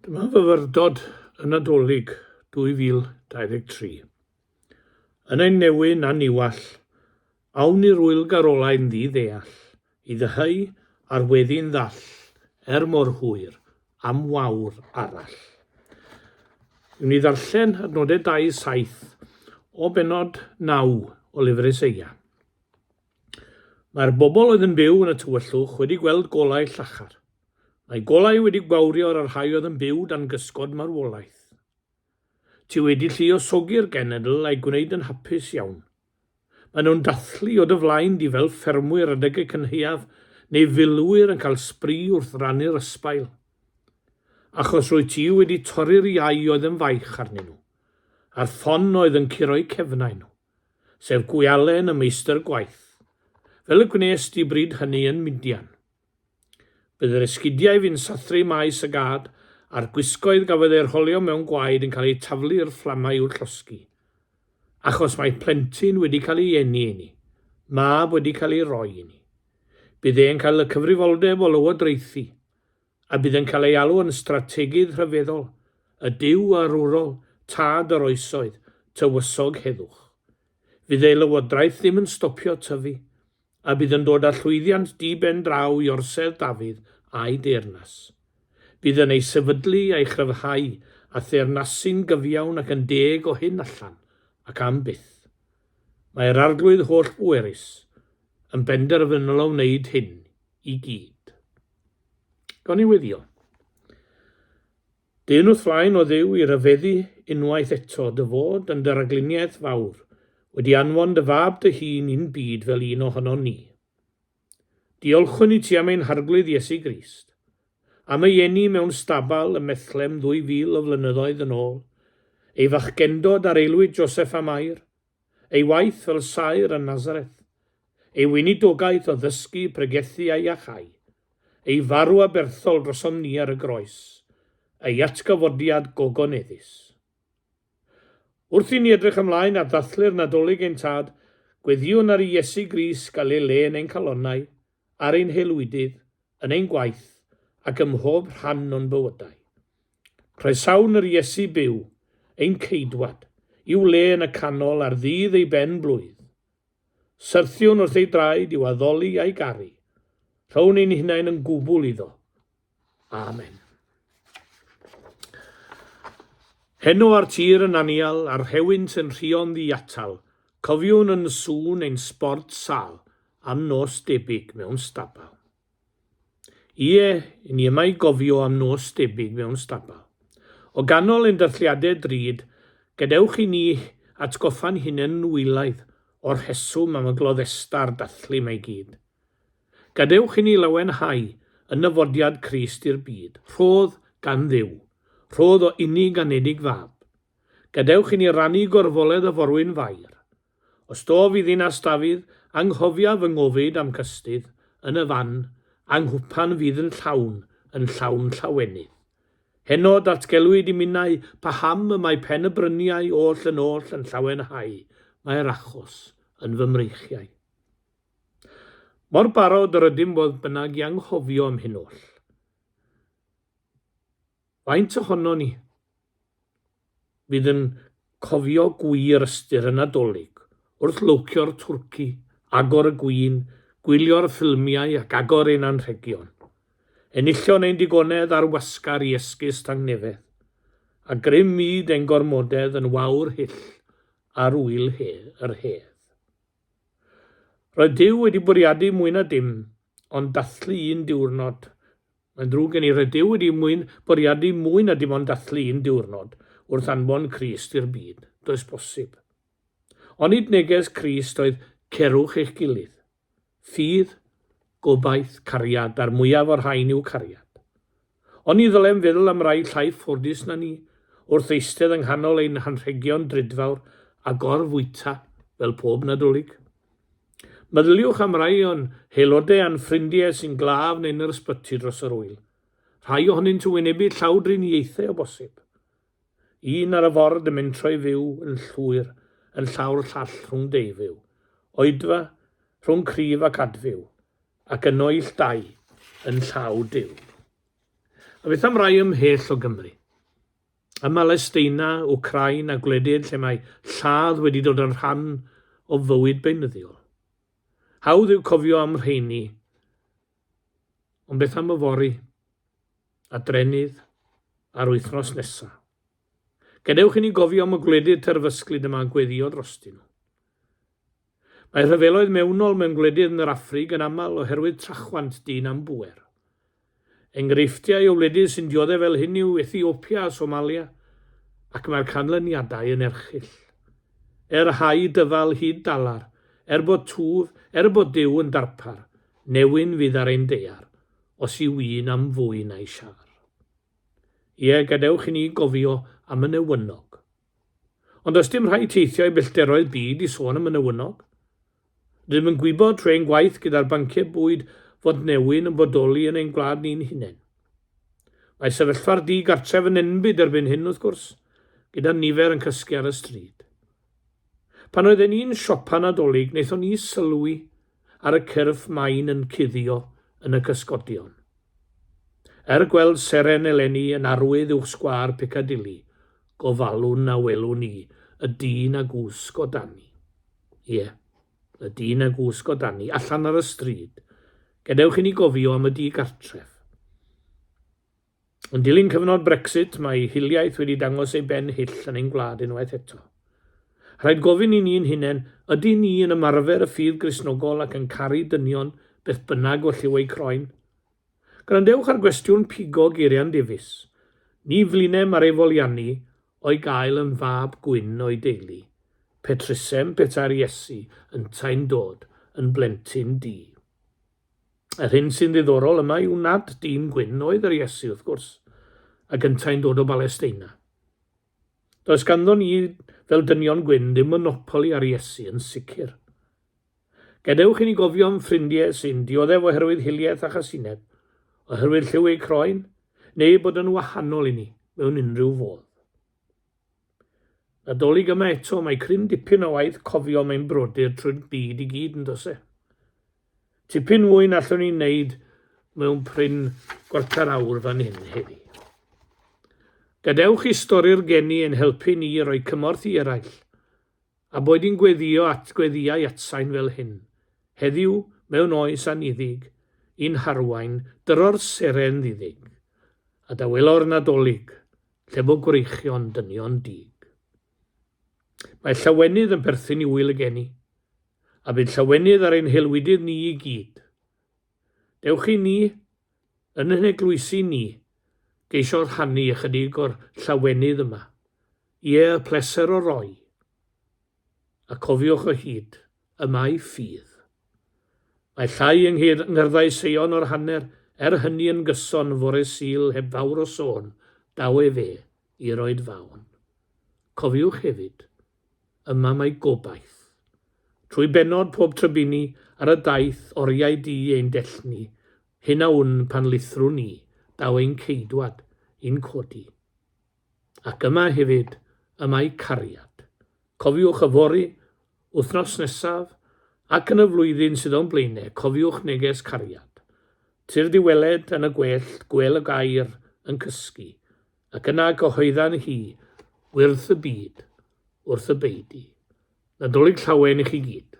Dyma fyfyrdod y Nadolig 2023. Yn ein newyn a niwall, awn i'r wyl garolau'n ddi-ddeall, i ddyheu ar weddi'n ddall, er mor hwyr, am wawr arall. Yw'n ni ddarllen adnodau 2-7 o benod 9 o lyfr Eseia. Mae'r bobl oedd yn byw yn y tywyllwch wedi gweld golau llachar. Mae golau wedi gwawrio ar y rhai oedd yn byw dan gysgod marwolaeth. Ti wedi lluosogi'r genedl a'i gwneud yn hapus iawn. Maen nhw'n dathlu o dy flaen di fel ffermwyr adeg y cynhaeaf neu filwyr yn cael sbri wrth rannu'r ysbail. Achos rwy ti wedi torri'r iau oedd yn faich arnyn nhw, a'r ffon oedd yn curo'u cefnau nhw. sef gwialen y meistr gwaith, fel y gwnes di bryd hynny yn Midian. Bydd yr esgidiau fu'n sathru maes y gad, a'r gwisgoedd gafodd eu rholio mewn gwaed yn cael eu taflu i'r fflamau i'w llosgi. Achos mae plentyn wedi cael ei eni inni, mab wedi cael ei roi inni. Bydd e'n cael y cyfrifoldeb o lywodraethu. a bydd yn cael ei alw yn Strategiydd Rhyfeddol y Duw Arwrol Tad yr Oesoedd, Tywysog Heddwch. Fydd ei lywodraeth ddim yn stopio tyfu, a bydd yn dod â llwyddiant di-ben draw i Orsedd Dafydd a'i deyrnas. Bydd yn ei sefydlu a'i chryfhau â theyrnasu'n gyfiawn ac yn deg o hyn allan, ac am byth. Mae'r Arglwydd holl-bwerus yn benderfynol o wneud hyn i gyd. Gawn ni weddio. Dyn wrth flaen o ddiw i ryfeddu unwaith eto dy fod yn dy ragluniaeth fawr, wedi anfon dy fab dy hun i'n byd fel un ohonon ni. Diolchwn i ti am ein Harglwydd Iesu Grist, am ei eni mewn stabal ym Methlem ddwy fil o flynyddoedd yn ôl, ei fachgendod ar aelwyd Joseph a Mair, ei waith fel saer yn Nazareth, ei weinidogaeth o ddysgu, pregethu a iachau, ei farw aberthol drosom ni ar y groes, ei atgyfodiad gogoneddus. Wrth i ni edrych ymlaen at ddathlu'r Nadolig ein Tad, gweddïwn ar i Iesu Grist gael ei le yn ein calonnau, ar ein haelwydydd yn ein gwaith ac ym mhob rhan o'n bywydau. Croesawn yr Iesu byw, ein Ceidwad, i'w le yn y canol ar ddydd ei ben blwydd. Syrthiwn wrth ei draed i'w addoli a'i garu. Rhown ein hunain yn gwbl iddo, Amen. Heno ar tir yn anial, a'r rhewint yn rhio'n ddiatal, cofiwn yn sŵn ein sbort sal, am nos debyg mewn stabal. Ie, ni yma i gofio am nos debyg mewn stabal. O ganol ein dathliadau drud, gadewch i ni atgoffa'n hunain wylaidd o'r rheswm am y gloddesta a'r dathlu mae gyd. Gadewch inni lawenhau yn nyfodiad Crist i'r byd. Rhodd gan Dduw. Rhodd o inni ganedig Fab. Gadewch inni rannu gorfoledd y forwyn fair. Os do fydd Ddinas Dafydd, anghofia fy ngofid a'm cystudd, yn y fan, a nghwpan fydd yn llawn, yn llawn llawenydd. Heno datgelwyd i minnau paham y mae pen y bryniau oll yn oll yn llawenhau, mae'r achos yn fy mreichiau. Mor barod yr ydym fodd bynnag i anghofio am hyn oll. Faint ohonon ni fydd yn cofio gwir ystyr y Nadolig wrth lowcio'r twrci, agor y gwin, gwylio'r ffilmiau ac agor ein anrhegion, enillion ein digonedd ar wasgar i esgus tangnefedd, a grym myd ein gormodedd yn wawr hyll ar wyl he, yr hedd. Roedd Duw wedi bwriadu mwy na dim ond dathlu un diwrnod. Mae'n ddrwg gen i, roedd Duw wedi mwyn bwriadu mwy na dim ond dathlu un diwrnod wrth anfon Crist i'r byd. Does bosib. Onid neges Crist oedd cerwch eich gilydd? Ffydd, gobaith, cariad, a'r mwyaf o'r rhain yw cariad. Ond ni ddylem feddwl am rai llai ffodus na ni, wrth eistedd yng nghanol ein hanrhegion drudfawr a gor-fwyta fel pob Nadolig. Meddyliwch am rai o'n haelodau a'n ffrindiau sy'n glaf neu'n yr ysbyty dros yr ŵyl. Rhai ohonynt yn wynebu llawdriniaethau o bosib. Un ar y ford yn mynd trwy fyw yn llwyr yn llaw'r llall rhwng deufyw, oedfa, rhwng cryf ac adfyw, ac yn oill dau yn llaw Duw. A beth am rai ymhell o Gymru? Ym Mhalesteina, Wcrain a gwledydd lle mae lladd wedi dod yn rhan o fywyd beunyddiol. Hawdd yw cofio am rheini, ond beth am yfory? a Drenydd ar wythnos nesa. Gadewch i ni gofio am y gwledydd terfysglyd y mae gweddio drostyn nhw. Mae rhyfeloedd mewnol mewn gwledydd yn yr Affrig yn aml oherwydd trachwant dyn am bŵer. Enghreifftiau o wledydd sy'n diodde fel hyn yw Ethiopia a Somalia, ac mae'r canlyniadau yn erchyll. Er hau dyfal hyd dalar, er bod twf, er bod Duw yn darpar, newyn fydd ar ein deiar, os yw un am fwy na'i siâr. Ie, gadewch i ni gofio am y newynog. Ond does dim rhaid teithio i bellteroedd byd i sôn am y newynog. Rydym yn gwybod trwy ein gwaith gyda'r banciau bwyd fod newyn yn bodoli yn ein gwlad ni'n hunain. Mae sefyllfa'r di-gartref yn enbyd erbyn hyn, wrth gwrs, gyda nifer yn cysgu ar y stryd. Pan oedden ni'n siopa Nadolig naethon ni sylwi ar y cyrff main yn cuddio yn y cysgodion. Er gweld seren eleni yn arwydd uwch sgwâr Piccadilly, gofalwn a welwn ni y dyn a gwsg o dani. Ie, y dyn a gwsg o dani, allan ar y stryd. Gadewch i ni gofio am y di gartref. Yn dilyn cyfnod Brexit, mae hiliaeth wedi dangos ei ben hyll yn ein gwlad unwaith eto. Rhaid gofyn i ni'n hunain, ydy ni yn ymarfer y ffydd Gristnogol ac yn caru dynion beth bynnag oll yw eu croen? Gwrandewch ar gwestiwn pigo geiriau'n difis. Ni flinem ar ei foliannu o'i gael yn fab gwyn o'i deulu. Petrusem petai'r Iesu yntau'n dod yn blentyn du. Yr hyn sy'n ddiddorol yma yw nad dyn gwyn oedd yr Iesu, wrth gwrs, a gyntau'n dod o Balesteina. Does ganddo ni, fel dynion gwyn, ddim monopoli ar Iesu, yn sicr. Gadewch i ni gofio am ffrindiau sy'n dioddef oherwydd hiliaeth a chasineb, oherwydd lliw eu croen, neu bod yn wahanol i ni mewn unrhyw fodd. Nadolig yma eto, mae cryn dipyn o waith cofio mae'n brodyr trwy'r byd i gyd yn dose. Tipyn mwy na allwn ni'n neud mewn pryn gwarter awr fan hyn heddi. Gadewch i stori'r geni yn helpu ni i roi cymorth i eraill. A boed yn gweddïo at gweddïau atsain fel hyn, heddiw, mewn oes anniddig, yn harwain, dyro'r seren ddiddig, a dawelo'r Nadolig, lle bo gwreichion dynion dug. Mae llawenydd yn perthyn i ŵyl y geni, a bydd llawenydd ar ein helwydydd ni i gyd, Dewch i ni, yn yn eglwysi ni, geisio rhannu ychydig o'r llawenydd yma. Ie, y pleser o roi. A cofiwch o hyd, y mae ffydd. Mae llai yng ngyrddau Seion o'r hanner, er hynny yn gyson fore Sul heb fawr o sôn, daw efe i roid fawn. Cofiwch hefyd, Yma mae gobaith. Trwy bennod pob trybini ar y daith oriau di ein dell ni, hyn a wn pan lithrwn ni, daw ein ceidwad i'n codi. Ac yma hefyd y mae cariad. Cofiwch yfory, wythnos nesaf, ac yn y flwyddyn sydd o'n blaene, cofiwch neges cariad. Tyrd i weled yn y gwellt gwel y gair yn cysgu. Ac yna cyhoeddan hi, wyrth y byd, wrth y beudy, Nadolig Llawen i chi gyd.